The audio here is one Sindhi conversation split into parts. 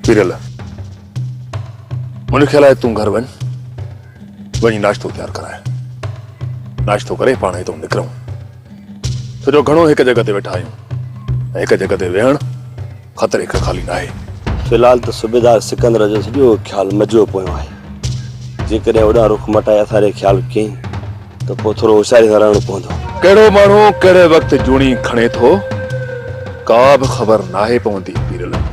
پيرل منهنجو خيال آهي تون گهر وڃ وڃي ناشتو تيار ڪرائي ناشتو ڪري پاڻ هتو نڪرون سڄو گهڻو هڪ جڳھ تي ويٺا آهيون هڪ جڳھ تي ويهڻ خطري کان خالي ناهي. في الحال ته صوبيدار سڪندر جو سڄو خيال مجوء پويان آهي. جيڪڏهن اوڏانهن رخ مٽائي اٿاري جو خيال ڪيئي ته پوء ٿورو هوشياريء سان رهڻو پوندو. ڪهڙو ماڻهو ڪهڙي وقت جوڻي کڻي ٿو، ڪا به خبر ناهي پوندي پيرلڳ.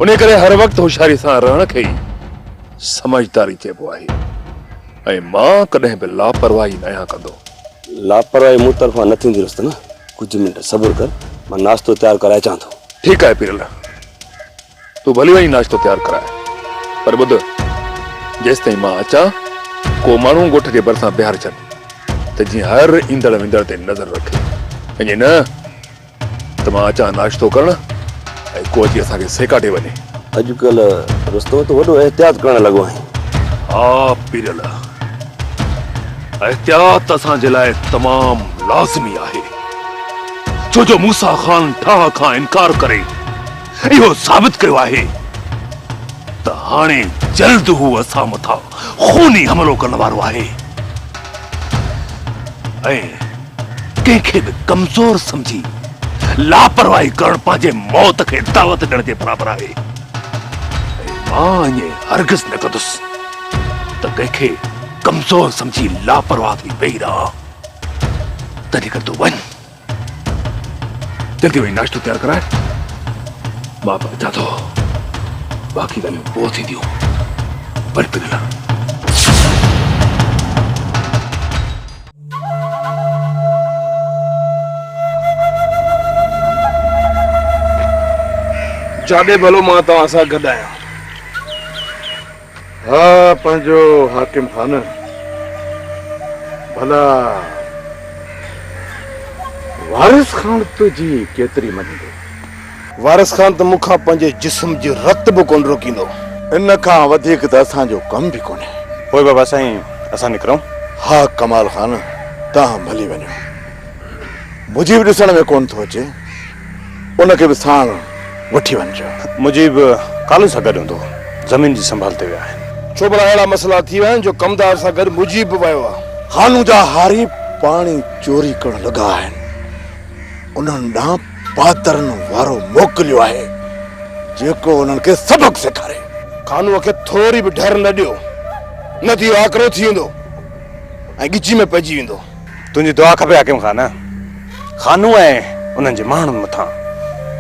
انهيء ڪري هر وقت هوشياريء سان رهڻ کي ئي سمجهداري چئبو آهي ۽ مان ڪڏهن به لاپرواهي ناهيان ڪندو. لاپرواهي مون طرفان نه ٿيندي رستم. ڪجهه منٽ صبر ڪر مان ناشتو تيار ڪرائي اچان ٿو. ٺيڪ آهي پيرل تون ڀلي وڃي ناشتو تيار ڪرائي پر ٻڌ جيستائين مان اچان ڪو ماڻهو ڳوٺ جي ڀرسان بيهار ڇڏ ته جيئن هر ايندڙ ويندڙ تي نظر رکي ۽ جي نه ته مان اچان ناشتو ڪرڻ ۽ ڪو اچي اسان کي سيڪاٽي وڃي. اڄڪلهه رستم تون وڏو احتياط ڪرڻ لڳو آهين. ها پيرل. احتياط اسان جي لاء تمام لازمي آهي، ڇو جو موسيٰ خان ٺاهه کان انڪار ڪري اهو ثابت ڪيو آهي ته هاڻي جلد هو اسان مٿان خوني حملو ڪرڻ وارو آهي ۽ ڪنهن کي به ڪمزور سمجهي لاپرواهي ڪرڻ پنهنجي موت کي دعوت ڏيڻ جي برابر آهي ۽ مان ائين هرگز نه ڪندس ته ڪنهن کي ڪمزور سمجهي لاپرواهه ٿي ويهي رهه تنهنجي ڪري تون وڃ جلدي وڃي ناشتو تيار ڪرائي مان به اچان ٿو باقي ڳالهيون پوء ٿينديون وري پنهنجي لاء جاڏي ڀلو مان توهان سان گڏ آهيان ها پنهنجو حاڪم خانه، ڀلا وارث خان تنهنجي ڪيتري مڃيندو؟ وارث خان ته مون کان پنهنجي جسم جي رت به ڪونه روڪيندو. ان کان وڌيڪ ته اسان جو ڪم به ڪونهي. پوء بابا سائين اسان نڪرون؟ ها ڪمال خان توهان ڀلي وڃو. مجيب ڏسڻ ۾ ڪونه ٿو اچي ان کي به ساڻ وٺي وڃجو. مجيب ڪالو سان گڏ هوندو زمين جي سنڀال تي ويا آهن. ڇو ڀلا اهڙا مسئلا ٿي ويا آهن جو ڪمدار سان گڏ مجيب به ويو آهي. خانو جا هاري پاڻي چوري ڪرڻ لڳا آهن انهن ڏانهن پادرن وارو موڪليو آهي جيڪو انهن کي سبق سيکاري. خانوء کي ٿوري به ڍر نه ڏيو نه ته اهو آڪرو ٿي ويندو ۽ ڳچي ۾ پئجي ويندو. تنهنجي دعا کپي حاڪم خان. خانو ۽ انهن جي ماڻهن مٿان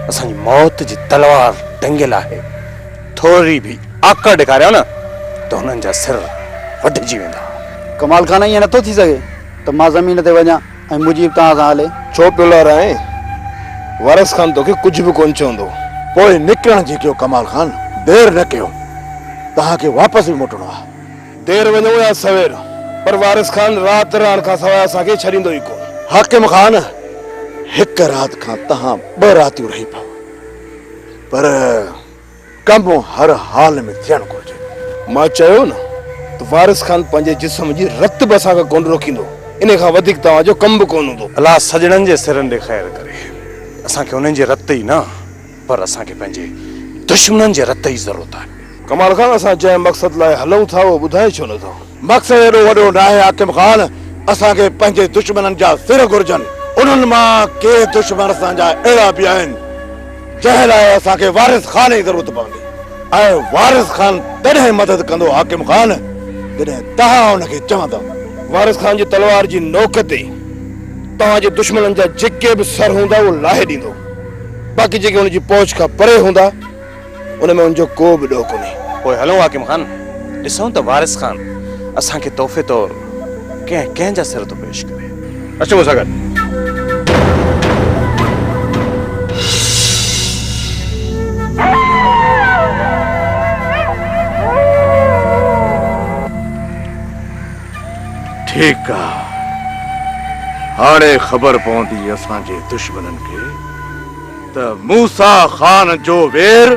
اسان جي موت جي تلوار ٽنگيل آهي. ٿوري به آڪڙ ڏيکاريو نه ته هنن جا سر وڍجي ويندا. ڪمال خان ائين نٿو ٿي سگهي ته مان زمين تي وڃان ۽ مجيب توهان سان هلي. ڇو پيو لارائين؟ وارث خان توکي ڪجهه به ڪونه چوندو. پوء نڪرڻ جي ڪيو ڪمال خان، دير نه ڪيو. توهان کي واپس به موٽڻو آهي. دير وڃون يا سوير، پر وارث خان رات رهڻ کان سواء اسان کي ڇڏيندو ئي ڪونه. حاڪم خان، هڪ رات کان توهان ٻه راتيون رهي پئو، پر ڪم هر حال ۾ ٿيڻ گهرجي. مان چيو نه ته وارث خان پنهنجي جسم جي رت به اسان کان ڪونه روڪيندو، انهي کان وڌيڪ توهان جو ڪم به ڪونه هوندو. الله سڄڻن جي سرن ڏي خير ڪري، اسان کي انهن جي رت ئي نه. پر اسان کي پنهنجي دشمنن جي رت جي ضرورت آهي. ڪمال خان اسان جنهن مقصد لاء هلون ٿا اهو ٻڌائي ڇو نه ٿو؟ مقصد ايڏو وڏو ناهي حاڪم خان، اسان کي پنهنجي دشمنن جا سر گهرجن، انهن مان ڪي دشمن اسان جا اهڙا به آهن جنهن لاء اسان کي وارث خان جي ضرورت پوندي ۽ وارث خان تڏهن مدد ڪندو حاڪم خان جڏهن توهان ان کي چوندؤ. وارث خان جي تلوار جي نوڪ تي توهان جي دشمنن جا جيڪي به سر هوندا اهو لاهي ڏيندو. باقي جيڪي هن جي پهچ کان پري هوندا، ان ۾ هن جو ڪو به ڏوهه ڪونهي. پوء هلون حاڪم خان، ڏسون ته وارث خان اسان کي تحفي طور ڪنهن ڪنهن جا سر ٿو پيش ڪري. اچ مون سان گڏ. ٺيڪ آ هاڻي خبر پوندي اسان جي دشمنن کي ته موسيٰ خان جو وير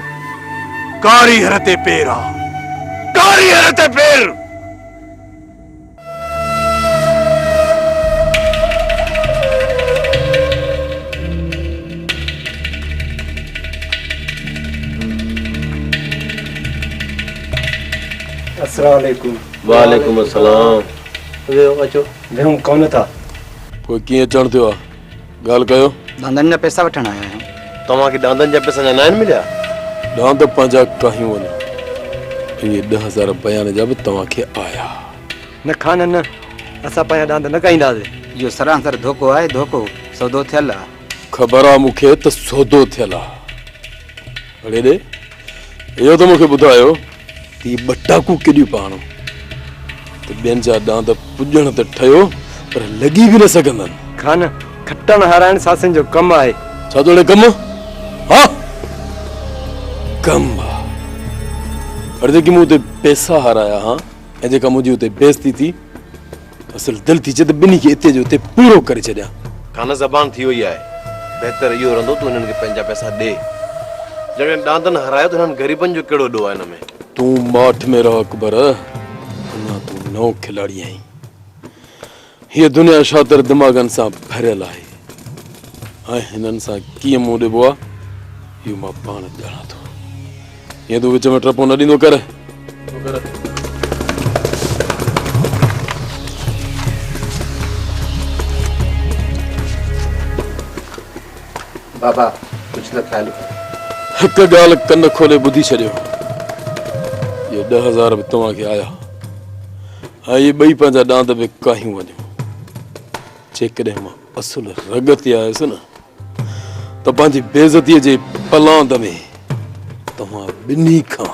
ڪاري هر تي پير آ ڪاري هر تي پير اسراليڪم وعليڪم السلام ويهو اچو. ويهون ڪونه ٿا. پوء ڪيئن اچڻ ٿيو آ ڳالهه ڪيو. ڏاندن جا پيسا وٺڻ آيا آهيون. توهان کي ڏاندن جا پيسا اڃا ناهن مليا. ڏاند پنهنجا ڪاهيون وڃو. اهي ڏهه هزار بيان جا به توهان کي آيا. نه خانه نه اسان پنهنجا ڏاند نه ڪاهينداسين. اهو سرانسر ڌوڪو آهي ڌوڪو. سودو ٿيل آ. خبر آ مون کي ته سودو ٿيل آ. اڙي ڙي اهو ته مون کي ٻڌايو ته هي ٻه ٽاڪون ڪيڏيون پيا هڻو ته ٻين جا ڏاند پڄڻ ته ٺهيو پر لڳي به نه سگهندن. خان، کٽڻ هارائڻ ساسين جو ڪم آهي. ڇا ٿو اڙي ڪم؟ ها ڪم آ. اڙي جيڪي مون اتي پئسا هارايا ها ۽ جيڪا منهنجي اتي بيعزتي ٿي اصل دل ٿي چي ته ٻنهي کي اتي جو اتي پورو ڪري ڇڏيان. کانئس زبان ٿي وئي آهي. بهتر اهو رهندو تون هنن کي پنهنجا پئسا ڏي. جڏهن ڏاندن هارايو ته هنن غريبن جو ڪهڙو ڏوهه آهي هن ۾. تون ماٺ ۾ رهه اڪبر. اڃا تون نئون کلاڙي آهين. هيء دنيا شاطر دماغن سان ڀريل آهي ۽ هنن سان ڪيئن منهن ڏبو آهي اهو مان پاڻ ڄاڻان ٿو. ائين تون وچ ۾ ٽپون نه ڏيندو ڪر. بابا ڪجهه ته خيال ڪر. هڪ ڳالهه ڪن کولي ٻڌي ڇڏيو. اهي ڏهه هزار به توهان کي آيا ۽ اهي ٻئي پنهنجا ڏاند به ڪاهيون وڃو. جيڪڏهن مان اصل رڳ تي آيس نه ته پنهنجي بي عزتيء جي پلاند ۾ توهان ٻنهي کان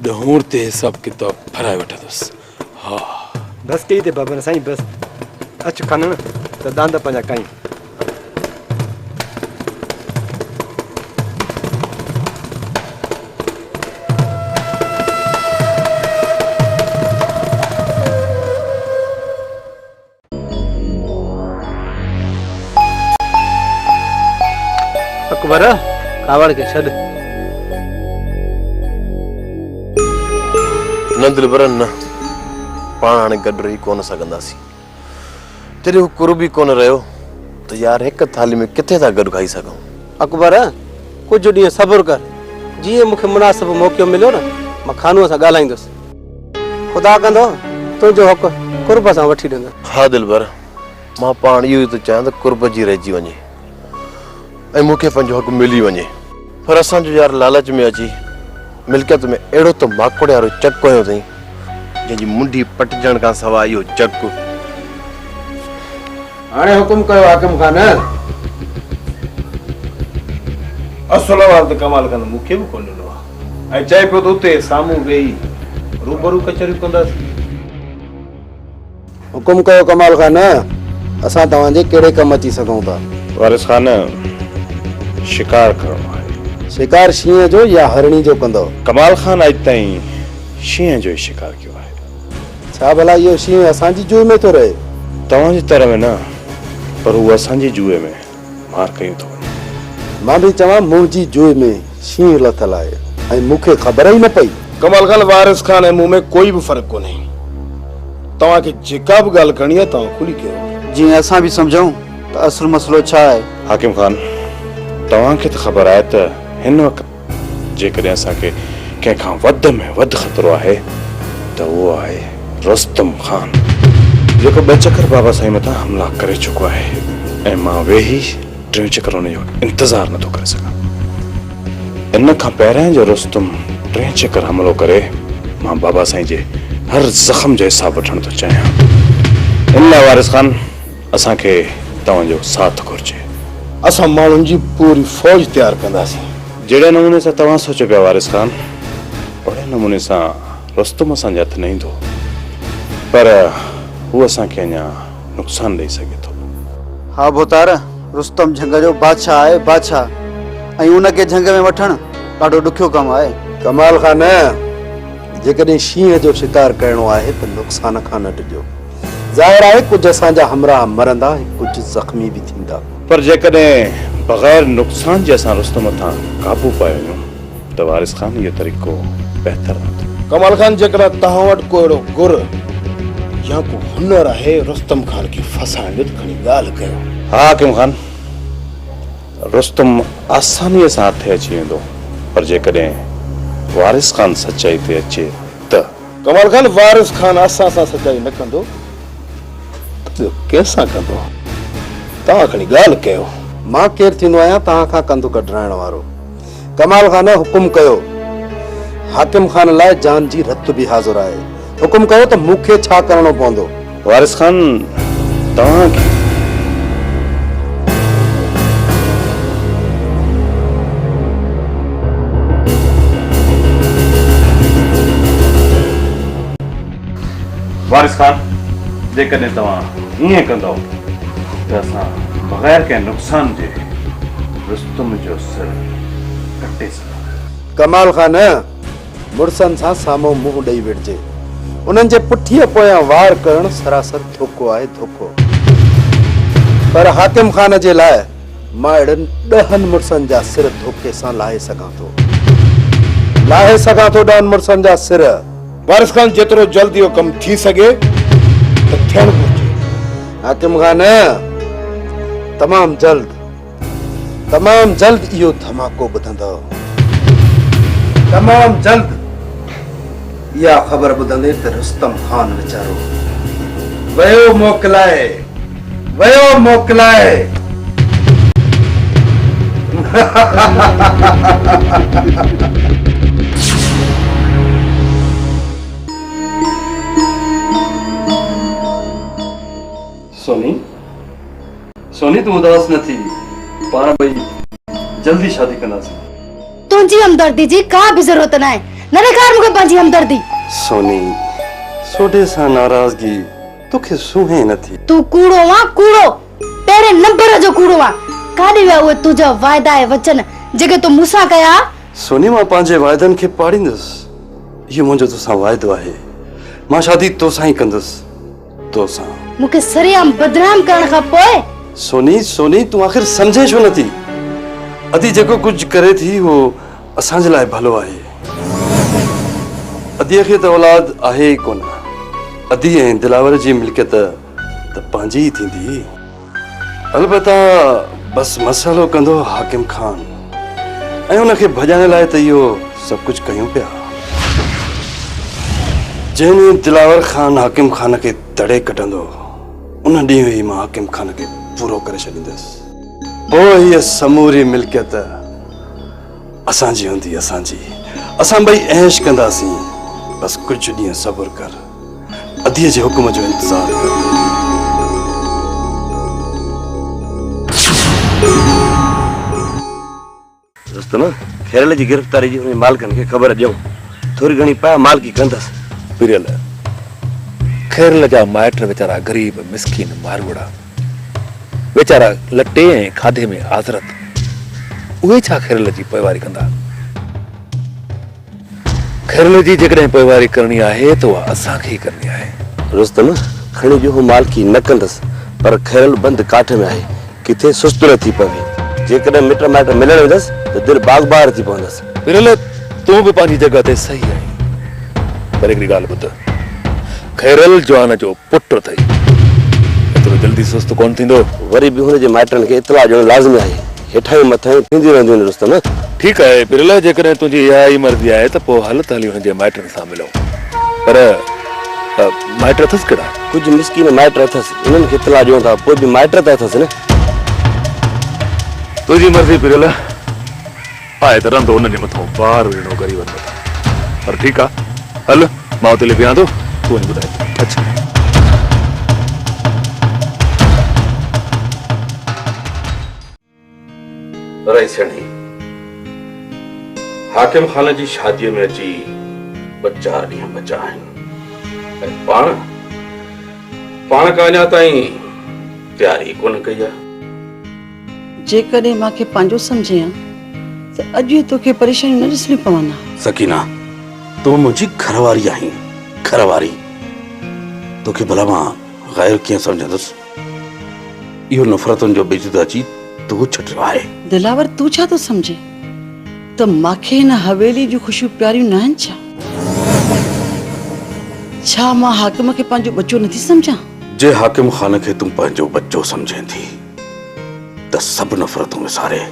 ڏهونر تي حساب ڪتاب ڦرائي وٺندس. ها. بس ڪئي تي بابر سائين بس. اچ کنڻ ته ڏاند پنهنجا ڪئين. اڪبر ڪاوڙ کي ڇڏ. نه دلبر نه، پاڻ هاڻي گڏ رهي ڪونه سگهنداسين. جڏهن هو قرب ئي ڪونه رهيو ته يار هڪ ٿالهي ۾ ڪٿي ٿا گڏ کائي سگهون. اڪبر ڪجهه ڏينهن صبر ڪر، جيئن مون کي مناسب موقعو مليو نه، مان خانوء سان ڳالهائيندس. خدا ڪندو تنهنجو حق قرب سان وٺي ڏندس. ها دلبر، مان پاڻ اهو ئي ٿو چاهيان ته قرب جي رهجي وڃي ۽ مون کي پنهنجو حق ملي وڃي. پر اسان جو يار لالچ ۾ اچي ملڪيت ۾ اهڙو ته ماڪوڙيارو چڪ هنيو اٿئي، جنهن جي منڍي پٽجڻ کان سواء اهو چڪ. هاڻي حڪم ڪيو حاڪم خان! اصل وارد ڪمال خان مون کي به ڪونه ڏنو آهي. ۽ چئي پيو ته اتي سامهون ويهي روبرو ڪچهريون ڪنداسين. حڪم ڪيو ڪمال خان، اسان توهان جي ڪهڙي ڪم اچي سگهون ٿا؟ وارث خان، شڪار ڪرڻو آهي. شڪار شينهن جو يا هرڻي جو ڪندؤ؟ ڪمال خان، اڄ تائين شينهن جو ئي شڪار ڪيو آهي. ڇا ڀلا اهو شينهن اسان جي جوء ۾ ٿو رهي؟ توهان جي تر ۾ نه، پر هو اسان جي جوء ۾. مار ڪيون ٿو وڃن. مان به چوان منهنجي جوء ۾ شينهن لٿل آهي ۽ مون کي خبر ئي نه پئي. ڪمال خان، وارث خان ۽ مون ۾ ڪوئي به فرق ڪونهي. توهان کي جيڪا به ڳالهه ڪرڻي آهي توهان کلي ڪيو. جيئن اسان به سمجهون ته اصل مسئلو ڇا آهي. حاڪم خان، توهان کي ته خبر آهي ته هن وقت. جيڪڏهن اسان کي ڪنهن کان وڌ ۾ وڌ خطرو آهي ته اهو آهي رستم خان جيڪو ٻه چڪر بابا سائين مٿان حملا ڪري چڪو آهي ۽ مان ويهي ٽيون چڪر ان جو انتظار نٿو ڪري سگهان. ان کان پهريان جو رستم ٽين چڪر حملو ڪري مان بابا سائين جي هر زخم جو حساب وٺڻ ٿو چاهيان. ان لاء وارث خان اسان کي توهان جو ساٿ گهرجي. اسان ماڻهن جي پوري فوج تيار ڪنداسين. جهڙي نموني سان توهان سوچيو پيا وارث خان، اوهڙي نموني سان رستم اسان جي هٿ نه ايندو. پر هو اسان کي اڃا نقصان ڏئي سگهي ٿو. ها ڀوتار، رستم جهنگ جو بادشاهه آهي، بادشاهه! ۽ ان کي جهنگ ۾ وٺڻ ڏاڍو ڏکيو ڪم آهي. ڪمال خان، جيڪڏهن شينهن جو شڪار ڪرڻو آهي ته نقصان کان نه ڊڄو. ظاهر آهي ڪجهه اسان جا همراهه مرندا ۽ ڪجهه زخمي به ٿيندا. پر جيڪڏهن بغير نقصان جي اسان رستم مٿان قابو پائي وڃون ته وارث خان اهو طريقو بهتر رهندو. ڪمال خان جيڪڏهن توهان وٽ ڪو اهڙو گر يا ڪو هنر آهي رستم خان کي ڦاسائڻ جو ته کڻي ڳالهه ڪيو. ها حاڪم خان، رستم آسانيء سان هٿي اچي ويندو پر جيڪڏهن وارث خان سچائي تي اچي ته. ڪمال خان وارث خان اسان سان سچائي نه ڪندو ته ٻيو ڪنهن سان ڪندو توهان کڻي ڳالهه ڪيو. مان ڪير ٿيندو آهيان توهان کان ڪنڌ ڪڍرائڻ وارو. ڪمال خان حڪم ڪيو حاڪم خان لاء جان جي رت به حاضر آهي. حڪم ڪيو ته مون کي ڇا ڪرڻو پوندو. وارث خان توهان کي. وارث خان جيڪڏهن توهان هيئن ڪندؤ ته اسان بغير ڪنهن نقصان جي رستم جو سر ڪٽي سگهنداسين. ڪمال خان. مڙسن سان سامهون منهن ڏئي وڙهجي. انهن جي پٺيء پويان وار ڪرڻ سراسر ڌوڪو آهي، ڌوڪو. پر حاڪم خان جي لاء مان اهڙن ڏهن مڙسن جا سر ڌوڪي سان لاهي سگهان ٿو. لاهي سگهان ٿو ڏهن مڙسن جا سر. وارث خان جيترو جلد اهو ڪم ٿي سگهي ته ٿيڻ گهرجي. حاڪم خان، تمام جلد. تمام جلد اهو ڌماڪو ٻڌندؤ. تمام جلد اها خبر ٻڌندين ته رستم خان ويچارو ويو موڪلائي ويو موڪلائي. سوني سوني تون اداس نه ٿي پاڻ ٻئي جلدي شادي ڪنداسين. تنهنجي همدردي جي ڪا به ضرورت ناهي نه ڏيکار مون کي پنهنجي همدردي. سوني سوڍي سان ناراضگي توکي سونهين نه ٿي. تون ڪوڙو آن ڪوڙو پهرين نمبر جو ڪوڙو آن ڪاڏي ويا اهي تنهنجا واعدا ۽ وچن جيڪي تو مون سان ڪيا ها. سوني مان پنهنجي واعدن کي پاڙيندس اهو منهنجو توسان واعدو آهي مان شادي توسان ئي ڪندس. تو سان. مون کي سرعام بدنام ڪرڻ کان پوء. سوني سوني تون آخر سمجهين ڇو نٿي. ادي جيڪو ڪجهه ڪري ٿي اهو اسان جي لاء ڀلو آهي. اديء کي ته اولاد آهي ئي ڪونه. ادي ۽ دلاور جي ملڪيت ته پنهنجي ئي ٿيندي. البته بس مسئلو ڪندو حاڪم خان ۽ ان کي ڀڄائڻ لاء ته اهو سڀ ڪجهه ڪيون پيا جنهن ڏينهن دلاور خان حاڪم خان کي تڙي ڪڍندو ان ڏينهن ئي مان حاڪم خان کي پورو ڪري ڇڏيندس پوء هيء سموري ملڪيت اسان جي هوندي اسان جي اسان ٻئي عيش ڪنداسين بس ڪجهه ڏينهن صبر ڪر اديء جي حڪم جو انتظار ڪر. ڦريل جي گرفتاري جي انهن مالڪن کي خبر ڏيون. ٿوري گهڻي پاء مالڪي ڪندس. ڦريل، خيرل جا مائٽ ويچارا غريب مسڪين ماروئڙا. ويچارا لٽي ۽ کاڌي ۾ آزرت. اهي ڇا خيرل جي پوئواري ڪندا. خيرلي جي جيڪڏهن پوئواري ڪرڻي آهي ته اها اسان کي ئي ڪرڻي آهي. رستم، کڻي ڏيهو مالڪي نه ڪندس، پر خيرل بند ڪاٺ ۾ آهي، ڪٿي سست نه ٿي پوي. جيڪڏهن مٽ مائٽ ملڻ ويندس ته دل باغ بهار ٿي پوندس. خيرلي، تون به پنهنجي جڳهه تي صحيح آهين، پر هڪڙي ڳالهه ٻڌ، خيرل جوان جو پٽ اٿئي، ايترو جلدي سست ڪونه ٿيندو. وري به هن جي مائٽن کي اطلاع ڏيڻ لازمي آهي. هيٺاهين مٿاهين ٿينديون رهنديون آهن رستم. ٺيڪ آهي پريلا جيڪڏهن تنهنجي اها ئي مرضي آهي ته پوء هل ته هليون هن جي مائٽن سان ملون. پر مائٽ اٿس ڪهڙا؟ ڪجهه مسڪين مائٽ اٿس انهن کي اطلاع ڏيون ٿا پوء به مائٽ ته اٿس نه. تنهنجي مرضي پريلا آهي ته رندو انهن جي مٿان بار ويهڻو غريبن مٿان پر ٺيڪ آهي هل. مان اتي لي بيهان ٿو تون وڃي ٻڌائي اچ. رئيس هينئي حاڪم خان جي شاديء ۾ اچي ٻه چار ڏينهن بچا آهن ۽ پاڻ پاڻ ڪا اڃا تائين تياري ڪونه ڪئي آهي. جيڪڏهن مان کي پنهنجو سمجهين ها ته اڄ اهي توکي پريشانيون نه ڏسڻيون پون ها. سڪينه تون منهنجي گهر واري آهين گهر واري توکي ڀلا مان غير ڪيئن سمجهندس اهو نفرتن جو ٻج ته اچي تو ڇٽيو آهي. دلاور تون ڇا ٿو سمجهين ته مان کي هن حويلي جون خوشيون پياريون ناهن ڇا؟ ڇا مان حاڪم کي پنهنجو ٻچو نٿي سمجهان؟ جي حاڪم خان کي تون پنهنجو ٻچو سمجهين ٿي. ته سڀ نفرتون وساري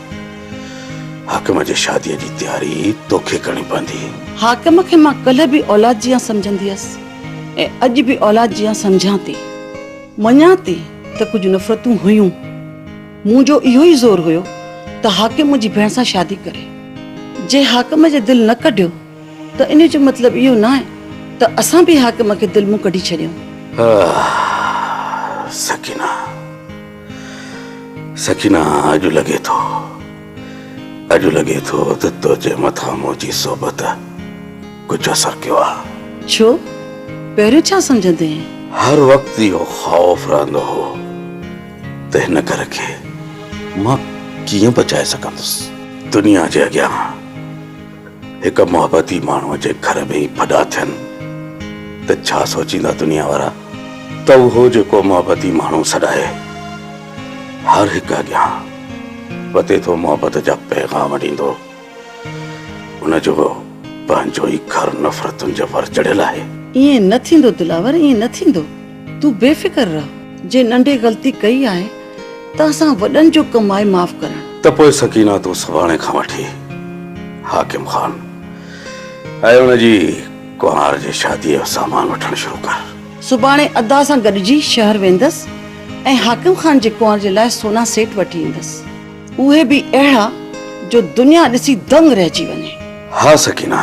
حاڪم جي شاديء جي تياري توکي ڪرڻي پوندي. حاڪم کي مان ڪلهه به اولاد جيان سمجهندي هيس ۽ اڄ به اولاد جيان سمجهان ٿي. مڃان ٿي ته ڪجهه نفرتون هيون. مون جو اهو ئي زور هيو ته حاڪم منهنجي ڀيڻ سان شادي ڪري. جي حاڪم جي دل نه ڪڍيو. ته ان جو مطلب اهو ناهي ته اسان به حاڪم کي دل مون ڪڍي ڇڏيون. سڪينه سڪينه اڄ لڳي ٿو اڄ لڳي ٿو ته تنهنجي مٿان منهنجي صحبت ڪجهه اثر ڪيو آهي. ڇو پهريون ڇا سمجهندين؟ هر وقت اهو خوف رهندو هو ته هن گهر کي مان ڪيئن بچائي سگهندس. دنيا جي اڳيان. هڪ محبتي ماڻهوء جي گهر ۾ ئي ڦڏا ٿين ته ڇا سوچيندا دنيا وارا ته اهو جيڪو محبتي ماڻهو سڏائي هر هڪ اڳيان وتي ٿو محبت جا پيغام ڏيندو ان جو پنهنجو ئي گهر نفرتن جي ور چڙهيل آهي. ائين نه ٿيندو دلاور ائين نه ٿيندو تون بي فڪر رهه. جي ننڍي غلطي ڪئي آهي. ته اسان وڏن جو ڪم آهي معاف ڪرڻ. ته پوء سڪينه تون سڀاڻي کان وٺي حاڪم خان ۽ ان جي ڪنوار جي شاديء جو سامان وٺڻ شروع ڪر. سڀاڻي ادا سان گڏجي شهر ويندس ۽ حاڪم خان جي ڪنوار جي لاء سونا سيٽ وٺي ايندس. اهي به اهڙا جو دنيا ڏسي دنگ رهجي وڃي. ها سڪينه!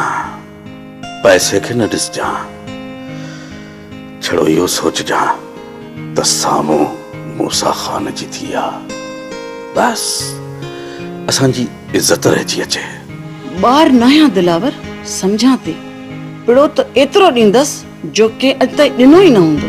پئسي کي نه ڏسجان، ڇڙو اهو سوچجان ته سامهون موسيٰ خان جي ڌيء آ، بس اسان جي عزت رهجي اچي. ٻار ناهيان دلاور، سمجهان تي پڙو ته ايترو ڏيندس جو ڪنهن اڄ تائين ڏنو ئي نه هوندو.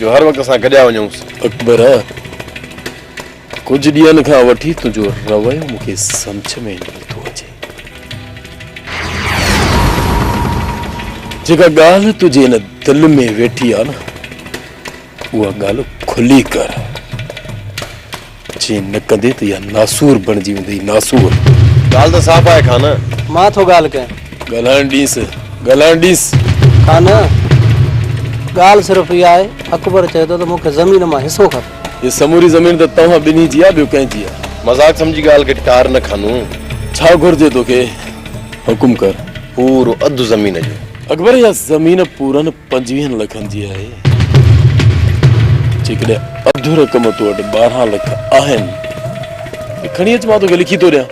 جو هر وقت اسان گڏيا وڃونس. اڪبر! ڪجهه ڏينهن کان وٺي تنهنجو رويو مون کي سمجهه ۾ نه ٿو اچي. جيڪا ڳالهه تنهنجي ان دل ۾ ويٺي آهي نه، اها ڳالهه کلي ڪر. جي نه ڪندي ته اها ناسور بڻجي ويندي، ناسور. ڳالهه ته صاف آهي خانه. مان ٿو ڳالهه ڪيان. ڳالهائڻ ڏينس، ڳالهائڻ ڏينس. خانه! ڳالهه صرف اها آهي، اڪبر چئي ٿو ته مون کي زمين مان حصو کپي. هي سموري زمين ته توهان ٻنهي جي آهي، ٻيو ڪنهن جي آهي؟ مذاق سمجهي ڳالهه کي ٽار نه خانه. ڇا گهرجي توکي؟ حڪم ڪر. پورو اڌ زمين جو. اڪبر! اها زمين پورن. پنجويهن لکن جي آهي جيڪڏهن اڌ رقم تو وٽ ٻارهن لک آهن ته کڻي اچ مان توکي لکي ٿو ڏيان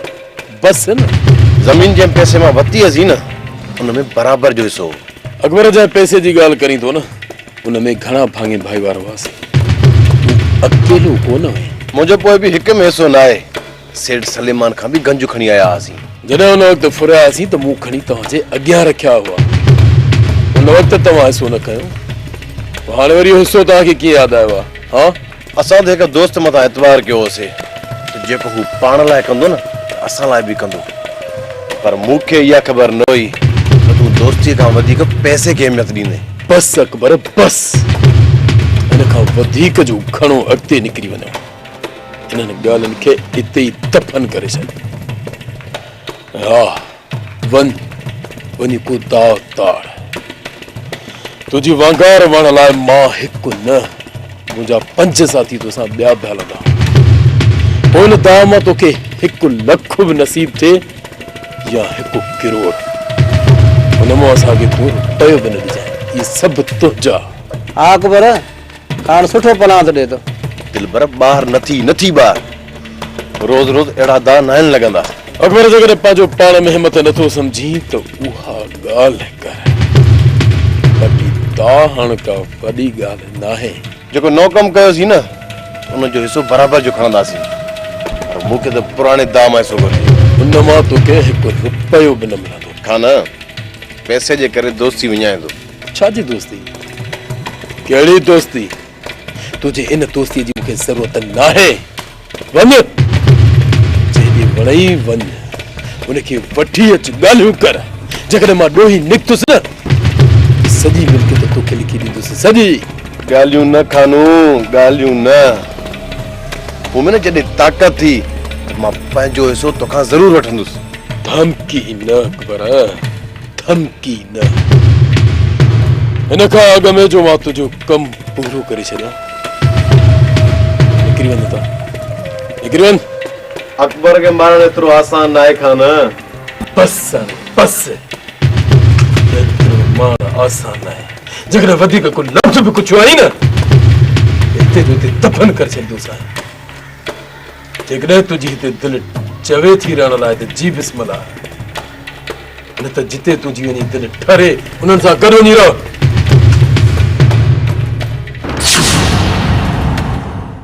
بس هي نه زمين جنهن پئسي مان وتي هزي نه ان ۾ برابر جو حصو هو اڪبر جنهن پئسي جي ڳالهه ڪرين ٿو نه ان ۾ گهڻا ڀاڱي ڀائيوار هئاسين تون اڪيلو ڪو نه هئين منهنجو پوء به هڪ ۾ حصو ناهي سيٺ سليمان کان به گنج کڻي آيا هئاسين. جڏهن ان وقت ڦرياسين ته مون کڻي توهان جي اڳيان رکيا هئا. ان وقت توهان حصو نه کنيو. پوء هاڻي وري اهو حصو توهان کي ڪيئن ياد آيو آهي؟ ها؟ اسان ته هڪ دوست مٿان اعتبار ڪيو هوسي ته جيڪو هو پاڻ لاء ڪندو نه ته اسان لاء به ڪندو. پر مون کي اها خبر نه هئي ته تون دوستيء کان وڌيڪ پئسي کي اهميت ڏيندين. بس اڪبر بس. هن کان وڌيڪ جو گهڻو اڳتي نڪري وڃو. انهن ڳالهين کي اتي ئي دفن ڪري ڇڏ. ها، وڃ، وڃي ڪو داغ تاڙ. تنهنجي وانگار وڻ لاء مان هڪ نه، منهنجا پنج ساٿي توسان ٻيا به هلندا. پوء ان داغ مان توکي هڪ لک به نصيب ٿئي يا هڪ ڪروڙ. ان مان اسان کي تون رپيو به نه ڏجانء. اهي سڀ تنهنجا. ها اڪبر! کان سٺو پناهه ٿو ڏي ٿو. دلبر ٻاهر نه ٿي، نه ٿي ٻاهر. روز روز اهڙا دانهن ناهن لڳندا. اڪبر جيڪڏهن پنهنجو پاڻ ۾ همٿ نه ٿو سمجهين ته اها ڳالهه ڪر. ٻٽي دانهن ڪا وڏي ڳالهه ناهي. جيڪو نئون ڪم ڪيوسين نه ان جو حصو برابر جو کڻنداسين. پر مون کي ته پراڻي دانهن مان حصو گهرجي. ان مان توکي هڪ رپيو به نه ملندو. کان نه پئسي جي ڪري دوستي وڃائين ٿو. ڇا جي دوستي؟ ڪهڙي دوستي؟ تنهنجي ان دوستيء جي مون کي ضرورت ناهي. وڃ، جنهن ڏي وڻئي وڃ، ان کي وٺي اچ، ڳالهيون ڪر. جيڪڏهن مان ڏوهي نڪتس نه، ته سڄي ملڪيت تو کي لکي ڏيندس، سڄي! ڳالهيون نه خانو، ڳالهيون نه. مون ۾ نه جڏهن طاقت ٿي، ته مان پنهنجو حصو تو کان ضرور وٺندس. ڌمڪي نه اڪبر! ڌمڪي نه. هن کان اڳ ۾ جو مان تنهنجو ڪم پورو ڪري ڇڏيان. نڪري وڃ هتان. نڪري وڃ. اڪبر کي مارڻ ايترو آسان ناهي خان. بس سائين بس. ايترو مارڻ آسان ناهي. جيڪڏهن وڌيڪ ڪو لفظ به ڪڇيو آهين نه هتي جو هتي دفن ڪري ڇڏيندوسانء. جيڪڏهن تنهنجي هتي دل چوي ٿي رهڻ لاء ته جي بسم الله نه ته جتي تنهنجي وڃي دل ٺري انهن سان گڏ وڃي رهه.